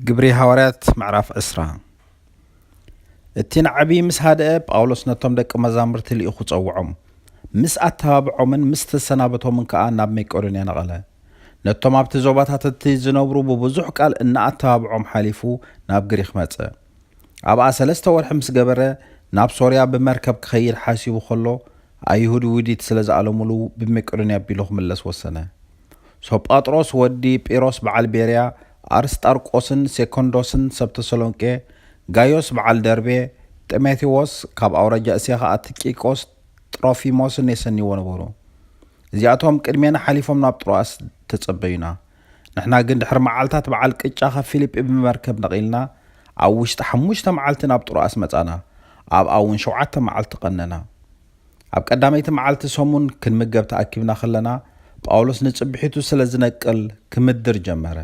ግብሪ ሃዋርያት ምዕራፍ ዕስራ እቲ ንዓብዪ ምስ ሃደአ ጳውሎስ ነቶም ደቂ መዛሙርቲ ልኢኹ ጸውዖም ምስ ኣተባብዖምን ምስ ተሰናበቶምን ከኣ ናብ መቄዶንያ ነቐለ ነቶም ኣብቲ ዞባታት እቲ ዝነብሩ ብብዙሕ ቃል እናኣተባብዖም ሓሊፉ ናብ ግሪኽ መጸ ኣብኣ ሰለስተ ወርሒ ምስ ገበረ ናብ ሶርያ ብመርከብ ክኸይድ ሓሲቡ ከሎ ኣይሁድ ውዲት ስለ ዝኣለሙሉ ብመቄዶንያ ኣቢሉ ክምለስ ወሰነ። ሶጳጥሮስ ወዲ ጲሮስ በዓል ቤርያ፣ ኣርስጣርቆስን ሴኮንዶስን ሰብ ተሰሎንቄ፣ ጋዮስ በዓል ደርቤ፣ ጢሞቴዎስ ካብ ኣውራጃ እስያ ኸኣ ትቂቆስ ጥሮፊሞስን የሰንይዎ ነበሩ። እዚኣቶም ቅድሜና ሓሊፎም ናብ ጥሮኣስ ተጸበዩና። ንሕና ግን ድሕሪ መዓልታት በዓል ቅጫ ካብ ፊሊጲ ብመርከብ ነቒልና ኣብ ውሽጢ ሓሙሽተ መዓልቲ ናብ ጥሮኣስ መጻና፣ ኣብኣ እውን ሸውዓተ መዓልቲ ቐነና። ኣብ ቀዳመይቲ መዓልቲ ሰሙን ክንምገብ ተኣኪብና ኸለና፣ ጳውሎስ ንጽብሒቱ ስለ ዝነቅል ክምድር ጀመረ፣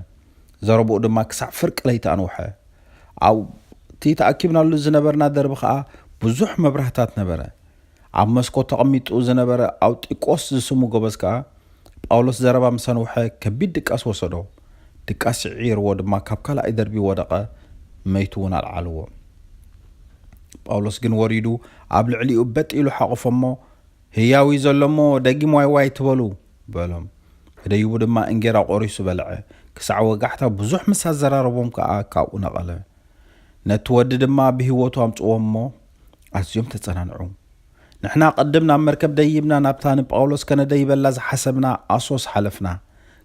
ዘረብኡ ድማ ክሳዕ ፍርቂ ለይቲ ኣንውሐ። ኣብ እቲ ተኣኪብናሉ ዝነበርና ደርቢ ኸኣ ብዙሕ መብራህታት ነበረ። ኣብ መስኮት ተቐሚጡ ዝነበረ ኣውጢቆስ ዝስሙ ጎበዝ ከኣ፣ ጳውሎስ ዘረባ ምስ ኣንውሐ ከቢድ ድቃስ ወሰዶ፣ ድቃስ ስዒርዎ ድማ ካብ ካልኣይ ደርቢ ወደቐ፣ መይቱ እውን ኣልዓልዎ። ጳውሎስ ግን ወሪዱ ኣብ ልዕሊኡ በጥ ኢሉ ሓቖፎ እሞ፣ ህያው እዩ ዘሎ እሞ ደጊም ዋይ ዋይ ኣይትበሉ፣ በሎም። ደዩቡ ድማ እንጌራ ቖሪሱ በልዐ፣ ክሳዕ ወጋሕታ ብዙሕ ምስ ኣዘራረቦም ከኣ ካብኡ ነቐለ። ነቲ ወዲ ድማ ብህይወቱ ኣምጽእዎ እሞ ኣዝዮም ተጸናንዑ። ንሕና ቅድም ናብ መርከብ ደይብና ናብታ ንጳውሎስ ከነደይበላ ዝሓሰብና ኣሶስ ሓለፍና።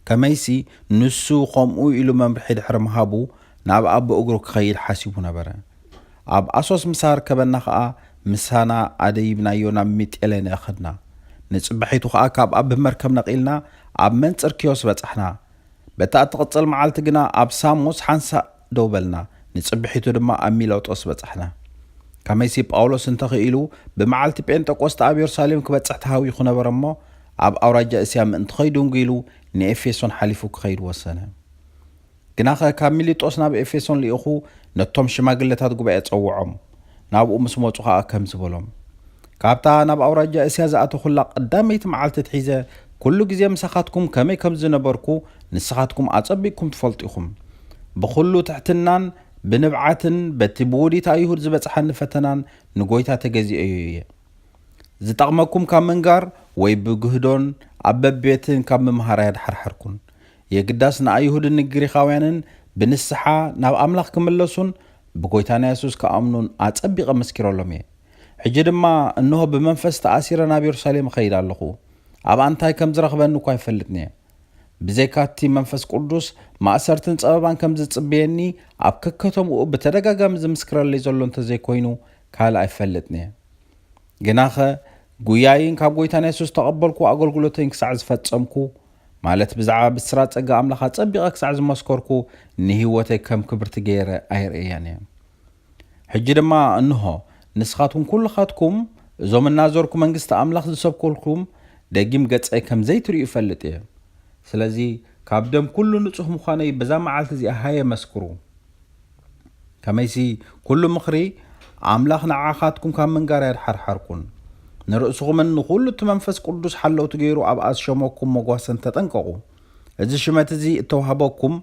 ከመይሲ፣ ንሱ ኸምኡ ኢሉ መምርሒ ድሕሪ ምሃቡ፣ ናብኣ ብእግሩ ኪኸይድ ሓሲቡ ነበረ። ኣብ ኣሶስ ምስ ኣርከበና ኸኣ፣ ምሳና ኣደይብናዮ ናብ ሚጤሌንኤ ኸድና። ንጽባሒቱ ኸኣ ካብኣ ብመርከብ ነቒልና ኣብ መንጽር ኪዮስ በጻሕና። በታ እትቕጽል መዓልቲ ግና ኣብ ሳሞስ ሓንሳእ ደው በልና፣ ንጽብሒቱ ድማ ኣብ ሚለጦስ በጻሕና። ከመይሲ ጳውሎስ እንተ ኽኢሉ ብመዓልቲ ጴንጠቆስጠ ኣብ የሩሳሌም ክበጽሕ ተሃዊኹ ነበረ እሞ፣ ኣብ ኣውራጃ እስያ ምእንቲ ኸይድንጉ ኢሉ ንኤፌሶን ሓሊፉ ክኸይድ ወሰነ። ግናኸ ካብ ሚሊጦስ ናብ ኤፌሶን ልኢኹ ነቶም ሽማግለታት ጉባኤ ጸውዖም። ናብኡ ምስ መጹ ከኣ ከምዚ በሎም፣ ካብታ ናብ ኣውራጃ እስያ ዝኣተኹላ ቐዳመይቲ መዓልቲ ኣትሒዘ ኵሉ ግዜ ምሳኻትኩም ከመይ ከም ዝነበርኩ ንስኻትኩም ኣጸቢቕኩም ትፈልጡ ኢኹም። ብዅሉ ትሕትናን ብንብዓትን በቲ ብውዲት ኣይሁድ ዝበጽሓኒ ፈተናን ንጐይታ ተገዚኤዮ እየ። ዝጠቕመኩም ካብ ምንጋር ወይ ብግህዶን ኣብ በብቤትን ካብ ምምሃር ኣየድሓርሓርኩን። የግዳስ ንኣይሁድን ንግሪኻውያንን ብንስሓ ናብ ኣምላኽ ኪምለሱን ብጐይታና የሱስ ኪኣምኑን ኣጸቢቐ መስኪረሎም እየ። ሕጂ ድማ እንሆ ብመንፈስ ተኣሲረ ናብ የሩሳሌም እኸይድ ኣለኹ። ኣብኣ እንታይ ከም ዚረኽበኒ እኳ ኣይፈልጥን እየ። ብዘይካ እቲ መንፈስ ቅዱስ፣ ማእሰርትን ጸበባን ከም ዚጽበየኒ ኣብ ከከተምኡ ብተደጋጋሚ ዚምስክረለይ ዘሎ እንተ ዘይኰይኑ ካልእ ኣይፈልጥን እየ። ግናኸ ጕያይን ካብ ጐይታና የሱስ እተቐበልክዎ ኣገልግሎተይን ክሳዕ ዝፈጸምኩ፣ ማለት ብዛዕባ ብስራት ጸጋ ኣምላኽ ኣጸቢቐ ክሳዕ ዝመስከርኩ ንህይወተይ ከም ክብርቲ ገይረ ኣይርእያን እየ። ሕጂ ድማ እንሆ ንስኻትኩም ኩልኻትኩም እዞም እናዞርኩ መንግስቲ ኣምላኽ ዝሰብከልኩም ደጊም ገጸይ ከም ዘይትርእዩ እፈልጥ እየ። ስለዚ ካብ ደም ኩሉ ንጹህ ምዃነይ በዛ መዓልቲ እዚኣ ሃየ መስክሩ። ከመይሲ ኩሉ ምኽሪ ኣምላኽ ንዓኻትኩም ካብ ምንጋር ኣያድሓርሓርኩን። ንርእስኹምን ንኹሉ እቲ መንፈስ ቅዱስ ሓለውቲ ገይሩ ኣብኣ ዝሸመኩም መጓሰን ተጠንቀቑ። እዚ ሽመት እዚ እተዋህበኩም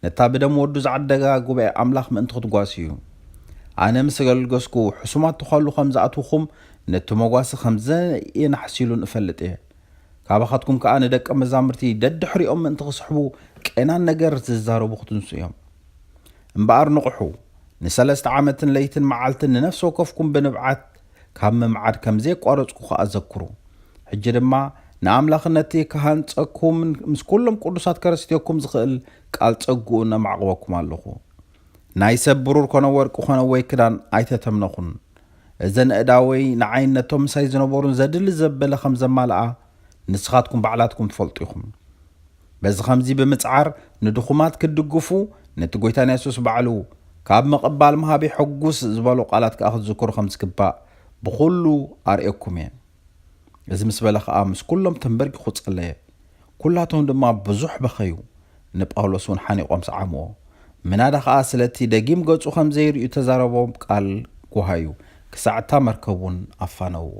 ነታ ብደም ወዱ ዝዓደጋ ጉባኤ ኣምላኽ ምእንቲ ክትጓሱ እዩ። ኣነ ምስ ኣገልገስኩ ሕሱማት ተዃሉ ከም ዝኣትዉኹም ነቲ መጓሰ ከም ዘየናሕሲሉን እፈልጥ እየ። ካባኻትኩም ከኣ ንደቀ መዛሙርቲ ደድሕሪኦም ምእንቲ ክስሕቡ ቄናን ነገር ዝዛረቡ ክትንሱ እዮም። እምበኣር ንቕሑ፣ ንሰለስተ ዓመትን ለይትን መዓልትን ንነፍሲ ወከፍኩም ብንብዓት ካብ ምምዓድ ከም ዘየቋረጽኩ ኸኣ ዘክሩ። ሕጂ ድማ ንኣምላኽን እቲ ክሃንጸኩምን ምስ ኵሎም ቅዱሳት ከረስትየኩም ዝኽእል ቃል ጸግኡን ኣማዕቕበኩም ኣሎኹ። ናይ ሰብ ብሩር ኰነ ወርቂ ኰነ ወይ ክዳን ኣይተተምነኹን። እዘን ኣእዳወይ ንዓይን ነቶም ምሳይ ዝነበሩን ዘድሊ ዘበለ ኸም ዘማልኣ ንስኻትኩም ባዕላትኩም ትፈልጡ ኢኹም። በዚ ኸምዚ ብምጽዓር ንድኹማት ክትድግፉ፣ ነቲ ጐይታና የሱስ ባዕሉ፣ ካብ ምቕባል ምሃብ የሐጕስ ዝበሎ ቓላት ከኣ ክትዝክሩ ኸም ዝግባእ፣ ብዅሉ ኣርእየኩም እየ። እዚ ምስ በለ ኸኣ ምስ ኵሎም ተምበርኪኹ ጸለየ። ኵላቶም ድማ ብዙሕ በኸዩ፣ ንጳውሎስ እውን ሓኒቖም ሰዓምዎ። ምናዳ ኸኣ ስለ እቲ ደጊም ገጹ ኸም ዘይርእዩ እተዛረቦም ቃል ጐሃዩ፣ ክሳዕ እታ መርከብ እውን ኣፋነውዎ።